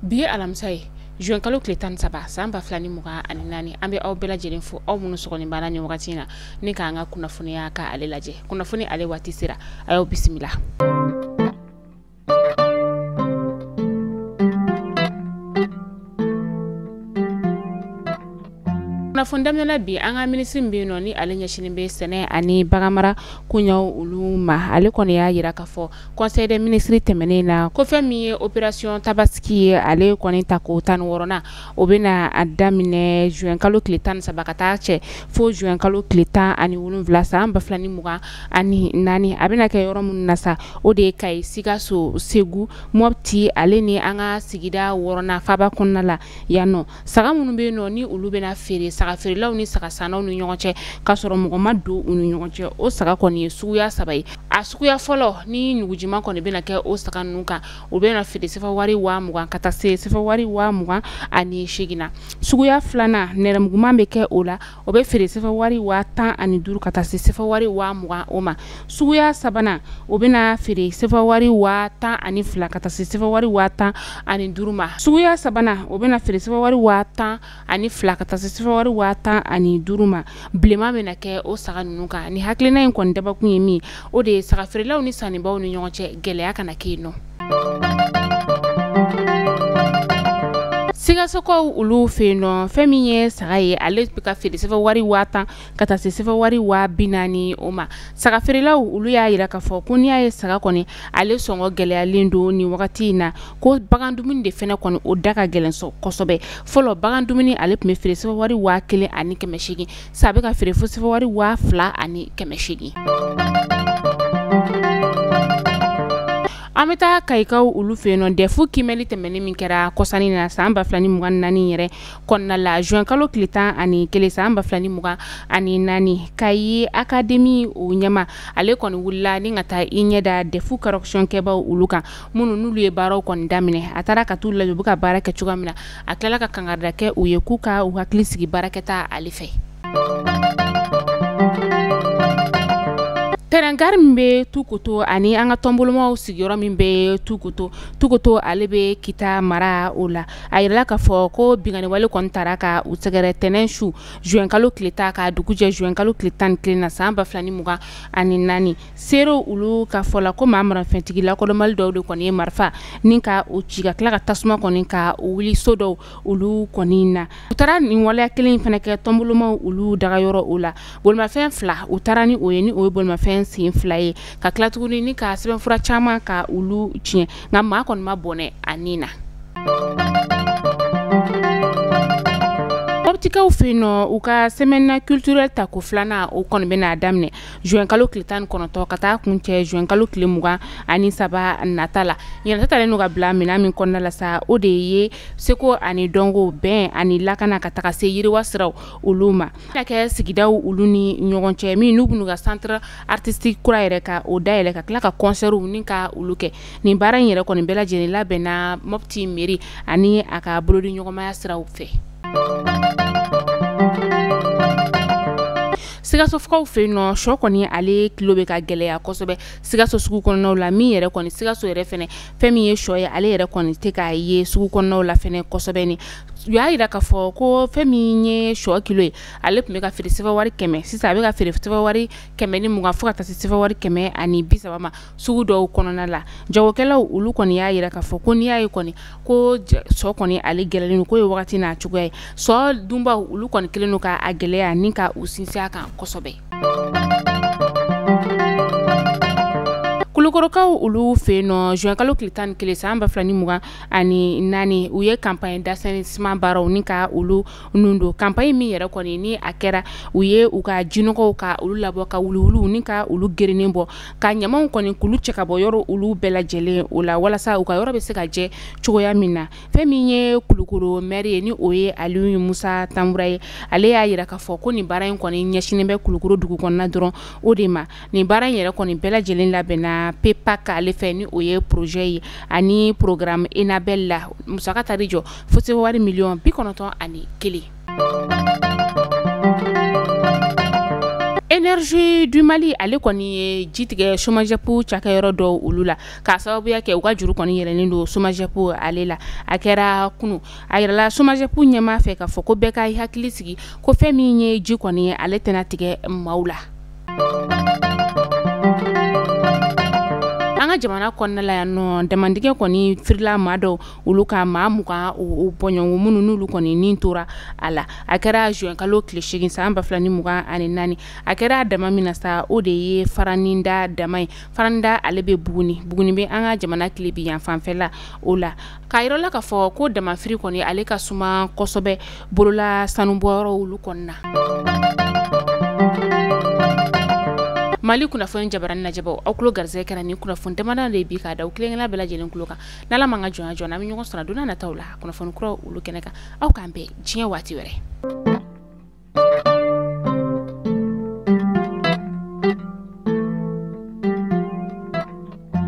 bi ye alamisa ye juin kalo tile tan ni saba san ba fila ni mugan ani naani an bɛ aw bɛɛ lajɛlen fo aw minnu sɔgɔlen b'an na nin wagati in na ni k'an ka kunnafoniya ka ale lajɛ kunnafoni ale waati sera a y'aw bisimila kunnafoni daminɛ na bi an ka minisiri min bɛ yen nɔ ni ale ɲɛsinnen bɛ sɛnɛ ani baganmara koɲɛw olu ma ale kɔni y'a jira k'a fɔ conseil des ministres tɛmɛnen na ko fɛn min ye opération tabaski ye ale kɔni ta ko tan ni wɔɔrɔnan o bɛna a daminɛ juin kalo tile tan ni saba ka taa cɛ fo juin kalo tile tan ani wolonwula san ba fila ni mugan ani naani a bɛna kɛ yɔrɔ minnu na sa o de ye kayi sikaso segu mɔpti ale ni an ka sigida wɔɔrɔnan faaba kɔnɔna la yan nɔ saga minnu bɛ yen nɔ ni olu bɛna feere saga feerelaw ni saga sannaw ni ɲɔgɔn cɛ k'a sɔrɔ mɔgɔ ma don u ni ɲɔgɔn cɛ o saga kɔni ye suguya saba ye a suguya fɔlɔ ni ɲugujiman kɔni bɛna kɛ o saga ninnu kan o bɛna feere sefa wari waa mugan ka taa se sefa wari waa mugan ani seegin na suguya filanan nɛrɛmuguman bɛ kɛ o la o bɛ feere sefa wari waa tan ani duuru ka taa se sefa wari waa mugan o ma suguya sabanan o bɛna feere sefa wari waa tan ani fila ka taa se sefa wari waa tan ani duuru ma suguya sabanan o bɛna feere sefa wari waa tan ani fila ka taa se sefa wari waa tan ani duuru ma bilenman bɛna kɛ o saga ninnu kan nin hakilina in kɔni dabakun ye min o de ye saga feerelaw ni sannibaw ni ɲɔgɔn cɛ gɛlɛya kana kɛ yen nɔ sikasokaw olu fɛ yen nɔ fɛn min ye saga ye ale bɛ ka feere sefa wari waa tan ka taa se sefa wari waa bi naani o ma saga feerelaw olu y'a jira k'a fɔ ko n'i y'a ye saga kɔni ale sɔngɔ gɛlɛyalen don nin wagati in na ko bagan dumuni de fɛnɛ kɔni o da ka gɛlɛn kosɛbɛ fɔlɔ bagan dumuni ale tun bɛ feere sefa wari waa kelen ani kɛmɛ seegin sa a bɛ ka feere fo sefa wari waa fila ani kɛmɛ seegin an bɛ taa kayikaw olu fɛ yen nɔ dɛfu kiimɛli tɛmɛnen min kɛra kɔsa in na san ba fila ni mugan ni naani yɛrɛ kɔnɔna la juin kalo tile tan ani kelen san ba fila ni mugan ani naani kayi akademi o ɲɛmaa ale kɔni wulila ni ka taa i ɲɛ da dɛfu correction kɛbaw olu kan minnu n'olu ye baaraw kɔni daminɛ a taara ka t'u lajɛ u bɛ ka baara kɛ cogoya min na a tilala ka kankarida kɛ u ye k'u ka u hakili sigi baarakɛta ale fɛ tɛrɛn gari min bɛ tukoto ani an ka tɔnbolomaw sigiyɔrɔ min bɛ tukoto tukoto ale bɛ kita mara o la a yirala k'a fɔ ko binkanniwale kɔni taara ka u sɛgɛrɛ tɛnɛn su juinkalo tile tan ka dugu jɛ juinkalo tile tan ni kelen na san ba fila ni mugan ani naani seerew olu ka fɔ la ko maa marafɛntigi lakodɔnbali dɔw de kɔni ye marifa ni ka u ci ka tila ka tasuma kɔni ka wuli so dɔw olu kɔni na u taara nin waleya kelen in fana kɛ tɔnbolomaw olu dagayɔrɔ o la bolimafɛn fila u taara ni o ye ni o ye bolimafɛn sen fila ye ka tila tuguni ni ka sɛbɛnfura caman ka olu tiɲɛ nka maa kɔni ma bɔnɛ a ni na mɔptikaw fɛ yen nɔ u ka semaine culturelle tako filanan o kɔni bɛna daminɛ juin kalo tile tan ni kɔnɔntɔn ka taa kuncɛ juin kalo tile mugan ani saba nata la ɲinan ta talen don ka bila minɛn min kɔnɔna la sa o de ye seko ani dɔnko bɛn ani lakana ka taga se yiriwa siraw olu ma bɛna kɛ sigidaw olu ni ɲɔgɔn cɛ min n'u bɛn'u ka centre artistique kura yɛrɛ ka o dayɛlɛ ka tila ka concertw ni ka olu kɛ nin baara in yɛrɛ kɔni bɛɛ lajɛlen labɛnna Mopti mairie ani a ka bolodiɲɔgɔnmaya siraw fɛ sikasokaw fɛ yen nɔ sɔ kɔni ale kilo bɛ ka gɛlɛya kosɛbɛ sikaso sugu kɔnɔnaw la min yɛrɛ kɔni sikaso yɛrɛ fɛnɛ fɛn min ye sɔ ye ale yɛrɛ kɔni tɛ k'a ye sugu kɔnɔnaw la fɛnɛ kosɛbɛ ni u y'a yira k'a fɔ ko fɛn min ye sɔ kilo ye ale tun bɛ ka feere sefa wari kɛmɛ sisan a bɛ ka feere sefa wari kɛmɛ ni mugan fo ka taa se sefa wari kɛmɛ ani bi saba ma sugu dɔw kɔnɔna la jagokɛlaw olu kɔni y'a yira k'a fɔ ko n'i y'a ye kɔni ko sɔ kɔni ale gɛlɛlen don k'o ye wagati n'a cogoya ye sɔ dunbaw olu kɔni kelen don k'a gɛlɛya ni ka u sinsin a kan kosɛbɛ kulukorokaw olu fɛ yen nɔ zuwɛnkalo tile tan ni kelen san ba fila ni mugan ani naani u ye campagne d'assainissement baaraw ni ka olu nun don campagne min yɛrɛ kɔni ni a kɛra u ye u ka jinɔgɔw ka olu labɔ ka wuluwuluw ni ka olu gerennen bɔ ka ɲamanw kɔni k'olu cɛ ka bɔ yɔrɔ olu bɛɛ lajɛlen o la walasa u ka yɔrɔ bɛ se ka jɛ cogoya min na fɛn min ye kulukoro maire ye ni o ye aliyu musa tanbura ye ale y'a jira k'a fɔ ko nin baara in kɔni ɲɛsinnen bɛ kulukoro dugu kɔnɔna dɔrɔn o de ma nin baara in yɛrɛ kɔni bɛɛ lajɛlen labɛnna PEPAK ale fɛ ni o ye projet ye ani programme enabel la musaka taar'i jɔ fo se wari miliyɔn bi kɔnɔntɔn ani kelen énergie du mali ale kɔni ye ji tigɛ somajɛpu cakɛyɔrɔ dɔw olu la k'a sababuya kɛ u ka juru kɔni yɛlɛlen don somajɛpu ale la a kɛra kunu a yirala somajɛpu ɲɛmaa fɛ k'a fɔ ko bɛɛ ka i hakili sigi ko fɛn min ye ji kɔni ye ale tɛna tigɛ maaw la an ka jamana kɔnɔna la yan nɔ damandingɛ kɔni firila maa dɔw olu kan maa mugan o bɔɲɔgɔnko minnu n'olu kɔni ni tora a la a kɛra zuwɛnkalo tile segin san ba fila ni mugan ani naani a kɛra daman min na sa o de ye faraninda daman ye faraninda ale bɛ buguni buguni bɛ an ka jamana tilebinyanfan fɛla o la K' a yira an la k' a fɔ ko damafiri kɔni ale ka suma kosɛbɛ bolola sanubɔyɔrɔ olu kɔnɔna na mali kunnafoni jabaranin lajɛbaw aw tulo garisɛgɛ kɛra nin kunnafoni damadɔ de bi k' a da aw kelen kelen bɛɛ lajɛlen tulo kan n' ala ma an ka jɔnya jɔ an bɛ ɲɔgɔn sɔrɔ don nataw la kunnafoni kura olu kɛnɛ kan aw k' an bɛn diɲɛ waati wɛrɛ